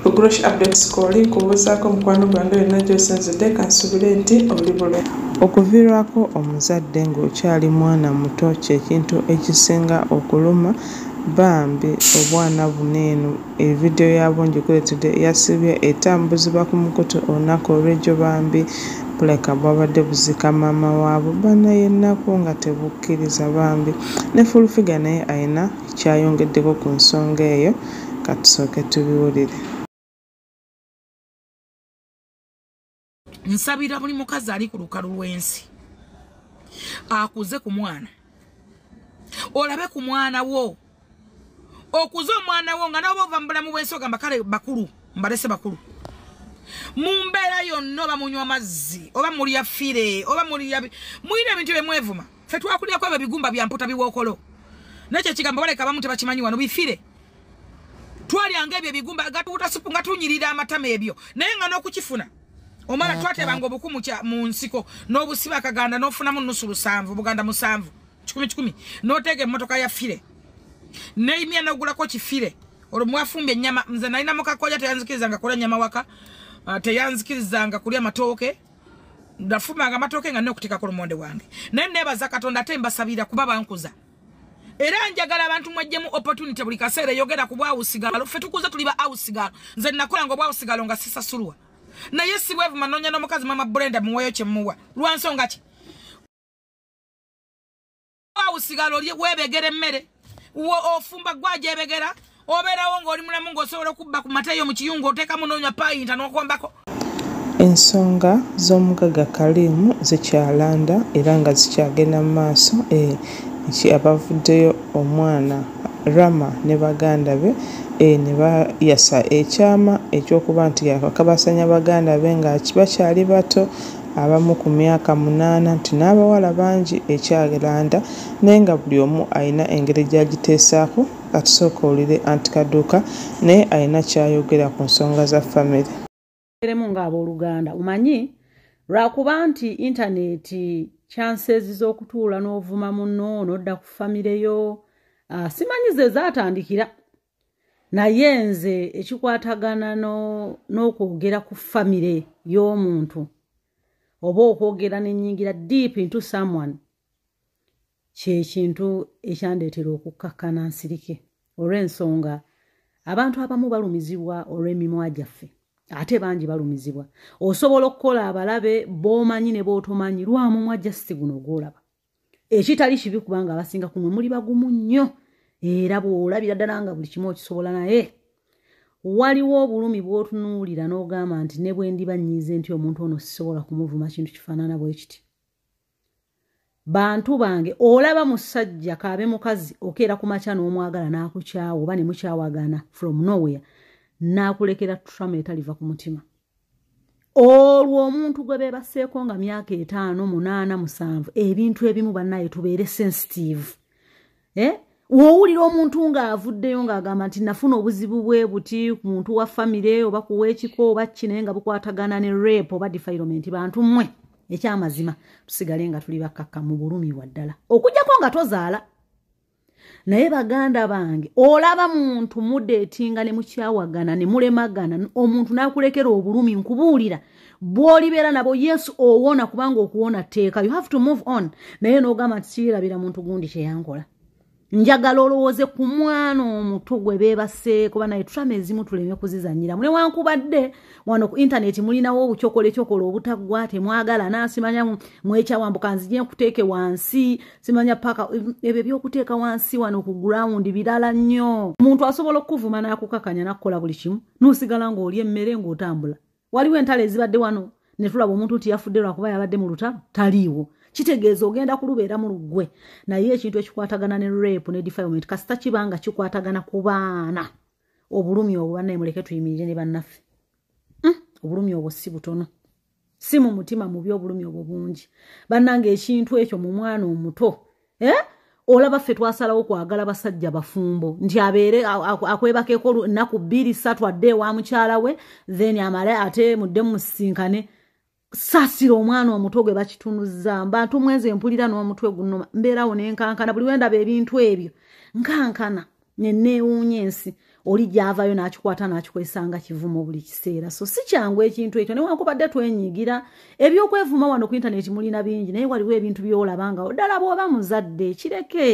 Bugurosh Update School nkubuuzaako mukwano gwange yonna gy'osinzidde kansuubire nti oli bulungi. Okuviirwako omuzadde ng'okyali mwana muto kye kintu ekisinga okuluma bambi obwana buno eno evidiyo yaabwo ngikuleetedde yasibye etambuzibwa ku mukutu olunaku olw'egyo bambi buleka bwabadde buzika maama waabwe banaye ennaku nga tebukkiriza bambi ne full figure naye alina kyayongeddeko ku nsonga eyo. Ka tusooke tubiwulire. Nsabira buli mukazi ali ku lukalu lw'ensi akuze ku mwana olabe ku mwana wo okuza omwana wo nga naoba ova mu bulamu bwensi ogamba kale bakulu mbalese bakulu mu mbeera yonna oba munywa amazzi oba mulya fire oba mulya mulina ebintu byemwevuma ffe twakulirako ebyo bigumba bya mputa biwookolo nekyo ekigambo baleka abamu tebakimanyi wano bifire twalyanga ebyo ebigumba gatuwuta supu nga tunyirira amatama ebyo naye nga n'okukifuna omala twatebanga obuku mu nsiko n'obusiba akaganda n'ofunamu nusu lusanvu buganda musanvu kikumi kikumi n'oteeka emmotoka ya fire neimya n'ogulako kifire olwo mwafumbye ennyama nze nalina mukakoya teyanzikirizanga kulya nyama waka ah, teyanzikirizanga kulya matooke nga fumanga amatooke nga nokuteka ku lumonde wange naye nebaza katonda ate mbasabira kuba bankuza era njagala abantu mwajjemu opportunity buli kaseera eyogera ku bwawusigalo ffe tukuze tuli ba awusigalo nze nakola nga obwawusigalo nga sisasulwa naye sibwevu manonya n'omukazi mama brenda muweyo kyemuwa lwansonga ki usigala olye webegera emmere ofumba gwajebegera obeerawo ng'oli mulamu ng'osobola okubba ku mata yo mu kiyungu oteekamu noonya payinta n'okombako ensonga z'omugagga kaliimu zikyalanda era nga zikyagenda mu maaso eh, ki abavuddeyo omwana rama ne baganda be eh, ne bayasa ekyama ekyokuba nti yakabasanya baganda be nga bakyali bato abamu ku myaka munaana nti n'abawala bangi ekyalanda naye nga buli omu alina engeri gy'agiteesaako kati sooka owulire Aunt Kaduuka naye alina ky'ayogera ku nsonga za famire. Tubeeremu ng'abooluganda omanyi lwakuba nti intaneeti chances z'okutuula n'ovuma munno n'odda ku famire yo ah, simanyi ze zaatandikira naye nze ekikwatagana n'okwogera ku famire y'omuntu oba okwogera nenyingira deep into someone kyekintu ekyandeetera okukkakkana nsirike olw'ensonga abantu abamu balumizibwa olw'emimwa gyaffe ate bangi balumizibwa osobola okukola abalabe b'omanyi ne b'otomanyi lwamumwa jasti guno gwolaba ekitali kibi kubanga abasinga kumwe muli bagumu nnyo era bw'olabira ddala nga buli kimu okisobola naye waliwo obulumi bw'otunuulira n'ogamba nti ne bwe ndiba nnyize nti omuntu ono sisobola kumuvuma kintu kifaanana bwe kiti bantu bange olaba musajja kaabe mukazi okeera ku makya n'omwagala n'akukyawa oba ne mukyawagana from nowhere n'akulekera trama etaliva ku mutima olwo omuntu gwe bebaseeko nga myaka etaano munaana musanvu ebintu ebimu banaye tubeere sensitive eh? wowulira omuntu ng'avuddeyo ng'agamba nti nafuna obuzibu bwe buti ku muntu wa famire oba kuwa ekiko oba ki naye nga bukwatagana ne rape oba defilement bantu mmwe ekyamazima tusigale nga tuli bakkakka mu bulumi waddala okujjako nga tozaala naye baganda bange olaba muntu mudeetinga ne mukyawagana ne mulemagana omuntu n'akulekera obulumi nkubuulira bw'olibeera nabo yes owona kubanga okuwona tteeka you have to move on naye n'ogamba nti siyirabira muntu gundi kyeyankola njagala olowooze ku mwana omuto gwe beebaseeko banaye trama ezimu tuleme kuzizanyiramu newankubadde wano ku intaneti mulinawo obukyokola ekyokola obutaggwa temwagala nasimanya mwekyawambuka nzije nkuteeke wansi simanya paka ebyo ebyokuteeka wansi wano ku ground birala nnyo omuntu asobola okukuvuma n'akukakanya nakukola buli kimu nosigala ng'oli emmere ng'otambula waliwo entalo ezibadde wano netulaba omuntu nti yafudde lwakuba yabadde mu lutalo taliiwo kitegeeza ogenda kulubeera mu luggwe naye ekintu ekikwatagana ne rape ne defilement kasita kiba nga kikwatagana ku baana obulumi obwo banaye muleke tuyimirire ne bannaffe hmm? obulumi obwo si butono si mu mutima mubi obulumi obwo bungi bannanga ekintu ekyo mu mwana omuto eh? olaba ffe twasalawo kwagala basajja bafumbo nti abeere akwebakeko ennaku bbiri ssatu adde ewa mukyala we then amale ate mudde musisinkane sasira omwana omuto gwe bakitunuzza mbantu mwenze mpulira n'omutwe guno mbeerawo nenkankana buli wendaba ebintu ebyo nkankana neneewuunya ensi oli gyavayo n'akikwata n'akikozesa nga kivumo buli kiseera so si kyangu ekintu ekyo newankubadde twenyigira ebyokwevuma wano ku intaneti mulina bingi naye waliwo ebintu byolaba nga oddala bw'oba muzadde kireke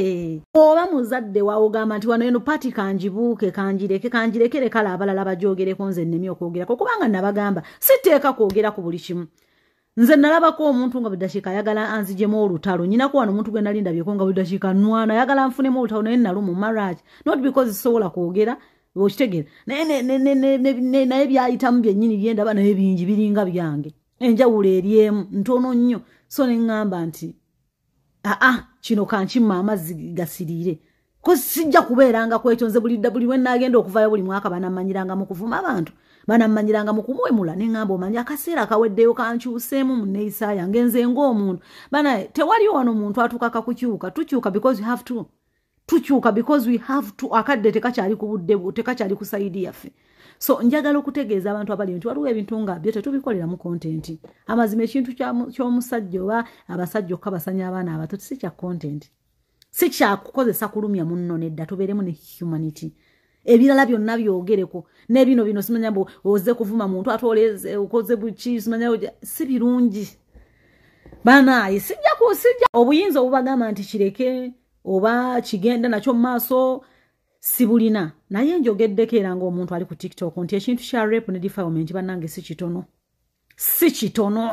oba muzadde waogamba nti wano eno pati kangibuuke kangireke kangirekere kale abalala bajoogereko nze nnemi okwogerako kubanga nabagamba siteeka kwogera ku buli kimu nze nalabako omuntu nga buli dakiika ayagala anzijemu olutalo nyinako wano omuntu gwe nali ndabyeko nga buli dakiika nwana ayagala nfunemu olutalo naye nalumu marriage not because sisobola kwogera okitegera naye naye byayitamu byennyini byendaba naye bingi biringa byange enjawulo eri emu ntono nnyo so ne ŋŋamba nti aa ah, ah, kino kankima amazzi gasiriire ko sijja kubeeranga kwetonze bulidda buli lwenaagenda okuvayo buli mwaka banamanyiranga mu kuvuma abantu banamanyiranga mu kumuwemula ne ŋŋamba omanyi akaseera akaweddeyo kankyuseemu mu nneeyisa yange nze ng'omuntu bana tewaliwo wano muntu atuuka kakukyuka tukyuka because you have to tukyuka because we have to akadde tekakyali ku budde bwo tekakyali ku sayidi yaffe so njagala okutegeeza abantu abali nti waliwo ebintu nga byo tetubikoleramu kontenti amazima ekintu ky'omusajja oba abasajja okukabasanya abaana abato si kya kontenti si kyakukozesa kulumya munno nedda tubeeremu ne humanity ebirala byonna byogereko nebino bino simanya mbu oze kuvuma muntu ate okoze buki simanya si birungi banaaye sijja kusiga obuyinza obubagamba nti kireke oba kigenda nakyo mu maaso sibulina naye njogeddeko era ngaomuntu ali ku tiktok nti ekintu kya rep ne defilement bannange si kitono si kitono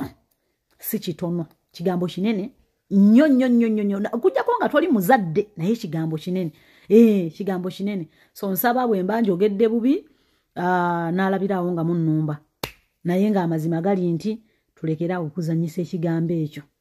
si kitono kigambo kinene nnyo nnyo nnyo nnyo nnyo okujjako nga toli muzadde naye kigambo kinene ee eh, kigambo kinene so nsaba bwe mba njogedde bubi ah, n'alabiraawo nga munnumba naye ng'amazima gali nti tulekerawo okuzanyisa ekigambo ekyo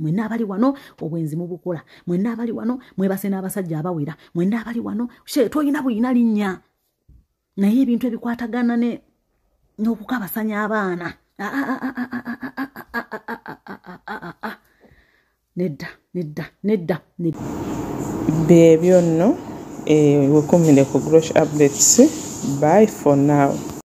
mwena abali wano obwenzi mubukola mwena abali wano mwebase n'abasajja abawera mwena abali wano she toyina buyina linnya naye ebintu ebikwatagana ne n'okukabasanya abaana nedda nedda nedda byebyo nno wekumire ku grosh updates by for now